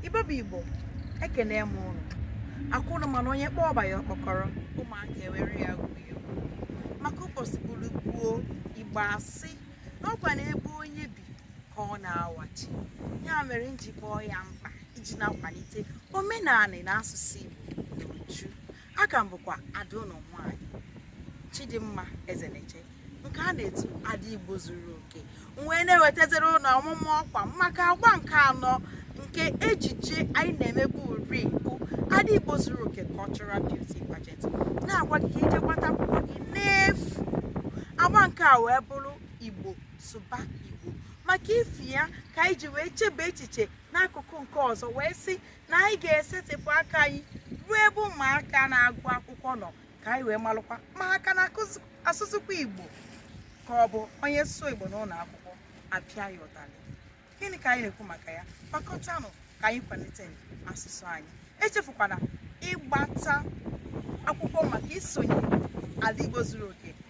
igbo bụ igbo ekene m ụnụ ọ kwa ụnụ ma na onye kpọọ ọba ya ọkpọkọrọ ụmụaka ewere ya gwuo maka ụbọchị bụrụ gbuo igbo asị na ọkwa na ebe onye bi ka ọ na-awachi ya mere m ji kpọ ya mkpa iji na-akwalite omenala na asụsụ igbo n'uju aka m bụkwa ada ụnụ nwaanyị Chidimma Ezeneche nke a na-etu ada Igbo zuru oke wee na-ewetazịrị ụnụ ọmụma ọkwa maka agba nke anọ nke ejije anyị na-emebu uri bụ ada Igbo zuru oke cultural beauty pageant na-agwa gị ka i je gbata akwụkwọ gị n'efu agba nke a wee bụrụ Igbo sụba Igbo maka ifi ya ka anyị ji wee chebe echiche n'akụkụ nke ọzọ wee sị na anyị ga-esetịpụ aka anyị ruo ebe ụmụaka na-agụ akwụkwọ nọ ka anyị wee malụkwa ma a ka na-asụsụkwa igbo ka ọ bụ onye sụọ igbo n'ụlọ akwụkwọ a pịa ya ụtalị gịnị ka anyị na-ekwu maka ya gbakọtanụ ka anyị kwalite asụsụ anyị echefukwana ịgbata akwụkwọ maka isonye ada igbo zuru oke